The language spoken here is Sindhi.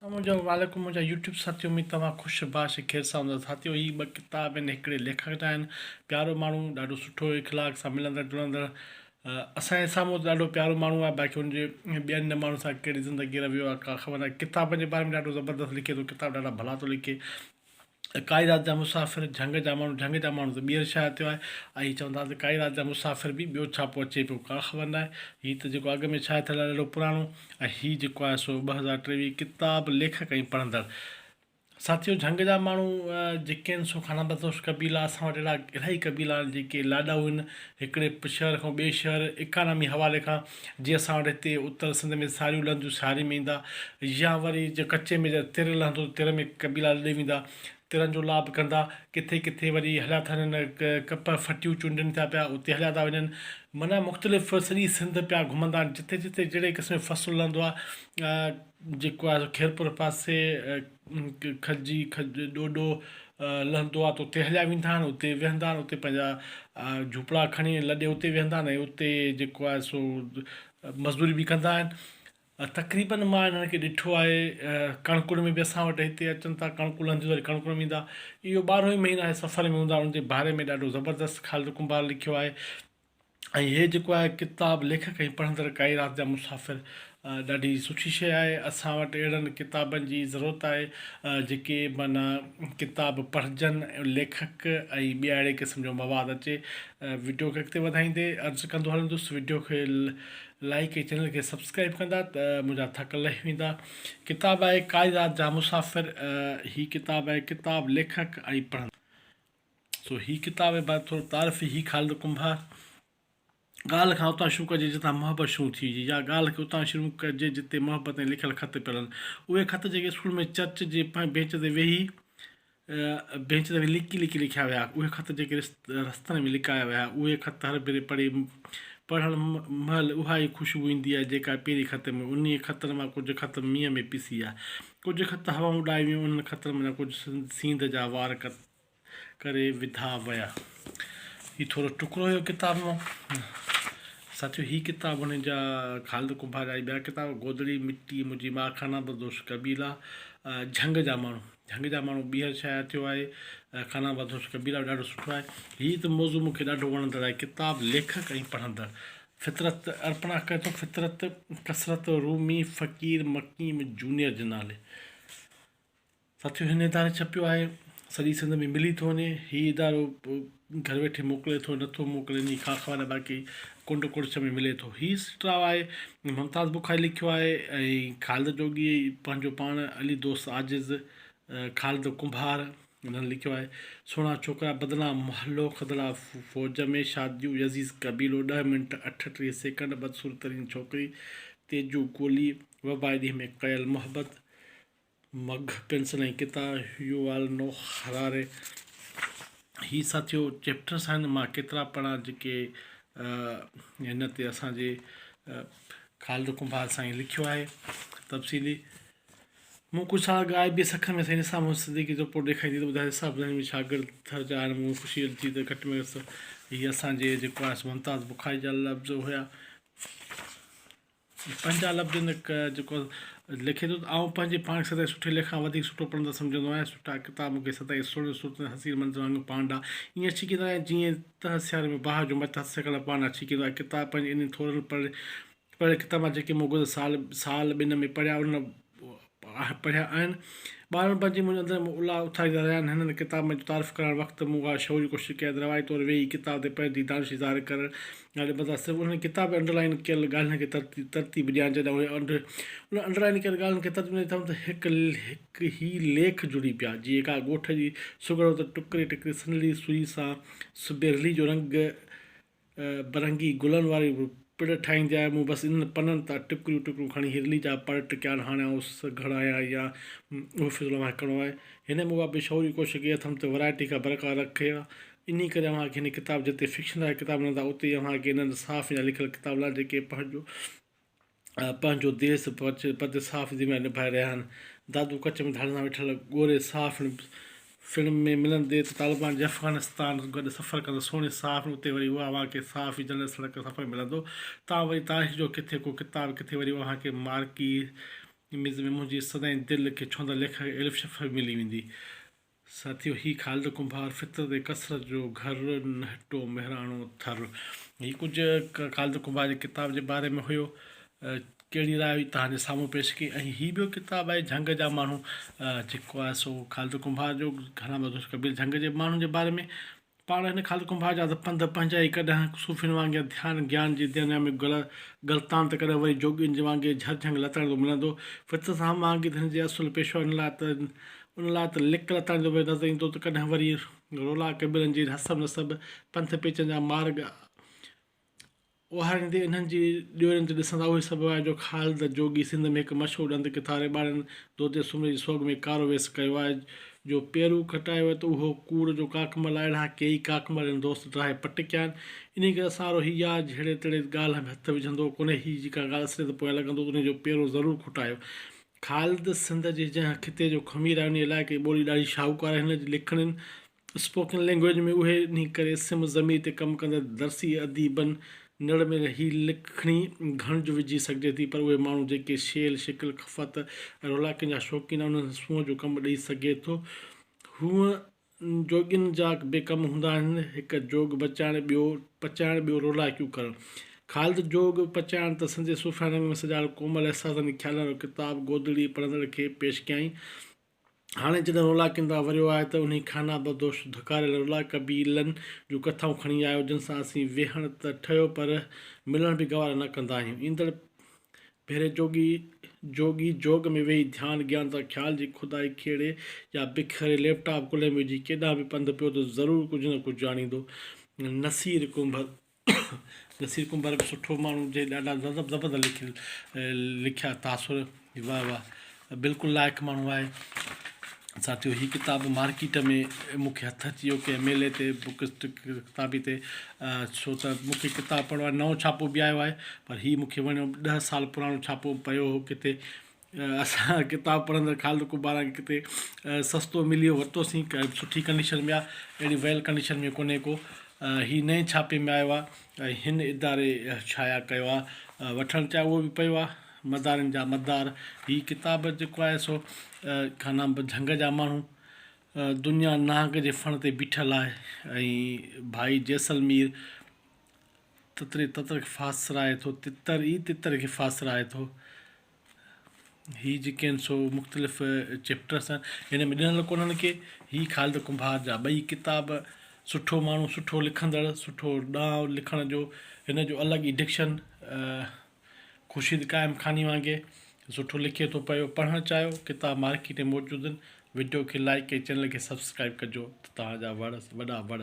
اسلام جا وعليڪم منهنجا يوٽيوب ساٿيو اميد توهان خوش باش خير سان هوندا ساٿيو هي ٻه ڪتاب آهن هڪڙي ليکڪ جا آهن پيارو ماڻهو ڏاڍو سٺو اخلاق سان ملندڙ جلندڙ اسان جي سامهون ته ڏاڍو پيارو ماڻهو آهي باقي ان جي ٻين نه ماڻهو سان ڪهڙي زندگي رويو آهي ڪا خبر ناهي ڪتابن جي باري ۾ ڏاڍو زبردست لکي ٿو ڪتاب ڏاڍا ڀلا ٿو لکي ڪائي رات جا مسافر، جهنگ جا ماڻهو، جهنگ جا ماڻهو ته ٻيهر شايع ٿيو آهي. ائين چون ٿا ته ڪائي رات جا مسافر به ٻيو ڇاپو اچي پيو، ڪا خبر ناهي. هي ته جيڪو اڳ ۾ شايع ٿيل آهي ڏاڍو پراڻو ۽ هي جيڪو آهي سو ٻه هزار ٽيويهه ڪتاب، ليکڪ ۽ پڙهندڙ. ساٿيو جهنگ جا ماڻهو جيڪي آهن سو خانه بدوش قبيلا، اسان وٽ اهڙا الاهي قبيلا آهن جيڪي لاڏائو آهن، هڪڙي شهر کان ٻئي شهر اڪانامي حوالي کان، جيئن اسان وٽ هتي اتر سنڌ ۾ ساريون لهنديون ساري ۾ ايندا يا وري جي ڪچي ۾ جڏهن تر لهندو ته تر ۾ قبيلا لڏي ويندا ترن جو لاء به ڪندا ڪٿي ڪٿي وري هليا ٿا وڃن ڪپهه ڦٽيون چونڊين ٿا پيا اتي هليا ٿا وڃن معنيٰ مختلف سڄي سنڌ پيا گهمندا آهن جتي جتي جهڙي قسم جو فصل لهندو آهي جيڪو آهي سو خيرپور پاسي کجي کج ڏوڏو لهندو آهي ته اتي هليا ويندا آهن اتي ويهندا آهن اتي پنهنجا جهوپڙا کڻي لڏي اتي ويهندا آهن ۽ اتي جيڪو آهي سو مزدوري به ڪندا آهن تقريباً مان انهن کي ڏٺو آهي ڪڻڪور ۾ به اسان وٽ هتي اچن ٿا ڪڻڪور لهنديون وري ڪڻڪور ۾ ويندا اهو ٻارهون ئي مهينا سفر ۾ هوندا ان جي باري ۾ ڏاڍو زبردست خالد ڪنڀار لکيو آهي ۽ هي جيڪو آهي ڪتاب ليکڪ ۽ پڙهندڙ ڪائرات جا مسافر ڏاڍي سٺي شيء آهي اسان وٽ اهڙن ڪتابن جي ضرورت آهي جيڪي معنيٰ ڪتاب پڙهجن ليکڪ ۽ ٻيا اهڙي قسم جو مواد اچي وڊيو کي اڳتي وڌائيندي عرض ڪندو هلندس وڊيو کي لائڪ ۽ چينل کي سبسڪرائب ڪندا ته منهنجا ٿڪ لهي ويندا ڪتاب آهي ڪائرات جا مسافر هي ڪتاب آهي ڪتاب ليکڪ ۽ پڙهندڙ سو هي ڪتاب جي باري ٿورو تعارف هي خالد ڪنڀار ڳالهه کان اتان شروع ڪجي جتان محبت شروع ٿي هجي يا ڳالهه کي اتان شروع ڪجي جتي محبت ۽ لکيل خط پيل هن اهي خط جيڪي اسڪول ۾ چرچ جي بينچ تي ويهي بينچ تي لڪي لڪي لکيا ويا اهي خط جيڪي رستن ۾ لڪايا ويا اهي خط هر ڀيري پڙهي پڙهڻ مهل اها ئي خوشبو ايندي آهي جيڪا پهرين خط ۾ انهي خطن مان ڪجهه خط مينهن ۾ پسي ويا ڪجهه خط هوائون اڏائي ويون انهن خطن منجهان ڪجهه سينڌ جا وار ڪري وڌا ويا. هي ٿورو ٽڪرو هيو ڪتاب مان. ساٿيو هي ڪتاب هن جا خالد ڪنڀار جا هي ٻيا ڪتاب گودڙي مٽي منهنجي ماء خانه بدوش قبيلا جهنگ جا ماڻهو جهنگ جا ماڻهو ٻيهر شايع ٿيو آهي خانه بدوش قبيلا ڏاڍو سٺو آهي هي ته موضوع مونکي ڏاڍو وڻندڙ آهي ڪتاب ليکڪ ۽ پڙهندڙ فطرت ارپنا ڪري ٿو فطرت ڪثرت رومي فقير مڪيم جونيئر جي نالي ساٿيو هن اداري ڇپيو آهي سڄي سنڌ ۾ ملي ٿو وڃي هي ادارو گهر ويٺي موڪلي ٿو نه ٿو موڪلي ني ڪا خبر آهي باقي ڪنڊ ڪڙڇ ۾ ملي ٿو هي سٽراء آهي ممتاز بخاري لکيو آهي ۽ خالد جوڳي پنهنجو پاڻ علي دوست عاجز خالد ڪنڀار انهن لکيو آهي سهڻا ڇوڪرا بدنام محلو خدڙا فوج ۾ شاديون يزيز قبيلو ڏهه منٽ اٺٽيهه سيڪنڊ بدصورت ترين ڇوڪري تيجو گولي وبائي ڏينهن ۾ ڪيل محبت مگھ، پينسل ۽ ڪتا، يووال نو هراري، هي ساٿيو چيپٽرس آهن مان ڪيترا پڙها جيڪي هن تي اسان جي خالد ڪنڀار سائين لکيو آهي تفصيلي مون ڪجهه سالا اڳ آء بي سک ۾ سائين نثار محمد صديقي جو پورٽ ڏيکاريندي ته ٻڌايو نثار ابراهيم جي شاگرد ٿر جا آهن مون خوشي ٿي ته گهٽ ۾ گهٽ هي اسان جي جيڪو آهي سو ممتاز بخاري جا لفظ هيا پنجاهه لفظن جيڪو لکي ٿو ته آئون پنهنجي پاڻ کي سدائين سٺي لک کان وڌيڪ سٺو پڙهندڙ سمجهندو آهيان سٺا ڪتاب مون کي سدائين سهڻين صورتن ۽ حسين منظرن وانگر پاڻ ڏانهن ائين ڇڪيندا آهن جيئن تهه سياري ۾ باهه جو مچ هٿ سڪڻ لاء پاڻ ڏانهن ڇڪيندو آهي ڪتاب پنهنجي انهن ٿورن پڙهيل ڪتابن مان جيڪي مون گذريل سال سال ٻن ۾ پڙهيا انهن پڙهيا آهن. ٻارن بنجي منهنجي اندر ۾ الاهه اٿاريندا رهيا آهن. هنن ڪتابن جو تعارف ڪرائڻ وقت مون اها شعوري ڪوشش ڪئي ته روايتي طور ويهي ڪتاب تي پنهنجي دانشي ظاهر ڪرڻ نالي بدران صرف انهن ڪتاب ۾ انڊرلائن ڪيل ڳالهين کي ترتيب ڏيان جڏهن اهي انهن انڊرلائن ڪيل ڳالهين کي ترتيب ڏيندي اٿم ته هڪ هڪ هي ليک جڙي پيا جيئن ڪا ڳوٺ جي سگهڙ هو ته ٽڪري ٽڪري سنهلي سوئي سان سبيرلي جو رنگ برنگي گلن واري پڙ ٺاهيندي آهي، مون بس انهن پنن تان ٽڪريون ٽڪريون کڻي هرلي جا پڙ ٽڪيان هاڻيائونس گهڙايان يا اهو فضول اوهان کي ڪرڻو آهي. هن مون بابت شعوري ڪوشش ڪئي اٿم ته ورائٽي کي برقرار رکي ها. انهيء ڪري اوهان کي هن ڪتاب جتي فڪشن جا ڪتاب ملندا اتي ئي اوهان کي انهن صحافين جا لکيل ڪتاب ملندا جيڪي پنهنجو پنهنجو ديس پد صاف ذميواري نڀائي رهيا آهن. دادو ڪچ ۾ ڌاڙي سان ويٺل ڳوري صاف فلم ۾ ملندي ته طالبان جي افغانستان گڏ سفر ڪندڙ سهڻي صاف اتي وري اهو اوهان کي صاف جي جلد سڙڪ سفر ملندو تان وري تاريخ جو ڪٿي ڪو ڪتاب ڪٿي وري اوهان کي مارڪي مز ۾ منهنجي سدائين دل کي ڇهندڙ ليکڪ ايلف شفق ملي ويندي ساٿيو! هي خالد ڪنڀار فطرت ۽ ڪثرت جو گهر، نهٽو مهراڻو ٿر. هي ڪجهه خالد ڪنڀار جي ڪتاب جي باري ۾ هيو. ڪهڙي راء هئي توهان جي سامهون پيش ڪئي ۽ هي ٻيو ڪتاب آهي جهنگ جا ماڻهو جيڪو آهي سو خالد ڪنڀار جو گهڻا ڀڳ ڪبير جهنگ جي ماڻهن جي باري ۾ پاڻ هن خالد ڪنڀار جا ته پنڌ پنهنجا ئي ڪڏهن صوفين وانگي ڌيان گيان جي دنيا ۾ گهلتان ته ڪڏهن وري جوڳين جي وانگي جهر جهنگ لتاڙيندو ملندو. فطرت سان هم آهنگي ته هن جي اصل پيشوا ان لاء ته ان لاء ته لڪ لتاڙيندو پئي نظر ايندو ته ڪڏهن وري رولا قبيلن جي حسب نسب پنٿ پيچن جا مارڳ اوهارين تي انهن جي ڏيورين تي ڏسندا اهوئي سبب آهي جو خالد جوڳي سنڌ ۾ هڪ مشهور ڏند ڪٿاري ٻارڙن دودي سومري جي سوڳ ۾ ڪارو ويس ڪيو آهي جو پيرو کٽايو ويو ته اهو ڪوڙ جو ڪاڪ ملا اهڙا ڪيئي ڪاڪ ملا ڏينهن دوست ڊاهي پٽ ڪيا آهن انهي ڪري اسان وارو هي يار جهيڙي تيڙي ڳالهه ۾ هٿ وجهندو ڪونهي هي جيڪا ڳالهه اسري ته پويان لڳندو انهي جو پيرو ضرور کٽايو خالد سنڌ جي جنهن خطي جو خمير آهي انهي علائقي جي ٻولي ڏاڍي شاهوڪار آهي هن جي لکڻين اسپوڪن لينگويج ۾ اهي انهي ڪري سم ضمير تي ڪم ڪندڙ درسي اديبن نڙ ۾ رهي لکڻي گهڻج وجهي سگهجي ٿي پر اهي ماڻهو جيڪي شيل شڪل خفت ۽ رولاڪين جا شوقين آهن انهن سونهن جو ڪم ڏئي سگهي ٿو هونء جوڳين جا بي ڪم هوندا آهن هڪ جوڳ بچائڻ ٻيو پچائڻ ٻيو رولاڪيون ڪرڻ خالد جوڳ پچائڻ ته سندس سرخڙي رنگ ۾ سجايل ڪومل احساسن ۽ خيالن وارو ڪتاب گودڙي پڙهندڙ کي پيش ڪيائين هاڻي جڏهن رولاڪ اندا وريو آهي ته انهي خانه بدوش ڌڪاريل رولاڪ بيلن جون ڪٿائون کڻي آيو جن سان اسين ويهڻ ته ٺهيو پر ملڻ به گوارا نه ڪندا آهيون. ايندڙ ڀيري جوڳي جوڳي جوڳ ۾ ويهي ڌيان گيان ته خيال جي خدائي کيڙي يا بکري ليپ ٽاپ ڪلهي ۾ وجهي ڪيڏانهن به پنڌ پيو ته ضرور ڪجهه نه ڪجهه ڄاڻيندو. نصير ڪنڀر. نصير ڪنڀر به سٺو ماڻهو جنهن ڏاڍا نظم زبردست لکي لکيا تاثر واھ واھ بلڪل لائق ماڻهو آهي ساٿيو هي ڪتاب مارڪيٽ ۾ مون کي هٿ اچي ويو ڪنهن ميلي تي بڪ ڪتابي تي ڇو ته مون کي ڪتاب پڙهڻو آهي نئون ڇاپو به آيو آهي پر هي مون کي وڻيو ڏهه سال پراڻو ڇاپو پيو هو ڪٿي اسان ڪتاب پڙهندڙ خالد ڪنڀارا کي ڪٿي سستو ملي ويو ورتوسين سٺي ڪنڊيشن ۾ آهي اهڙي ويل ڪنڊيشن ۾ ڪونهي ڪو هي نئين ڇاپي ۾ آيو آهي ۽ هن اداري شايع ڪيو آهي وٺڻ چاهي اهو به پيو آهي مدارن جا مدار هي ڪتاب جيڪو آهي سو کانا جهنگ جا ماڻهو دنيا نانگ جي فڻ تي بيٺل آهي ۽ ڀائي جيسلمير تتري تتر کي ڦاسرائي ٿو تتر ئي تتر کي ڦاسرائي ٿو هي جيڪي آهن سو مختلف چيپٽرس آهن هن ۾ ڏنل ڪونهن ڪي هي خالد ڪنڀار جا ٻئي ڪتاب سٺو ماڻهو سٺو لکندڙ سٺو ڏانء لکڻ جو هن جو الڳ ئي ڊڪشن خورشيد قائم خاني وانگي سٺو لکي ٿو پيو پڙهڻ چاهيو ڪتاب مارڪيٽ ۾ موجود آهن وڊيو کي لائڪ ڪري چينل کي سبسڪرائب ڪجو ته توهان جا وڙ وڏا وڙ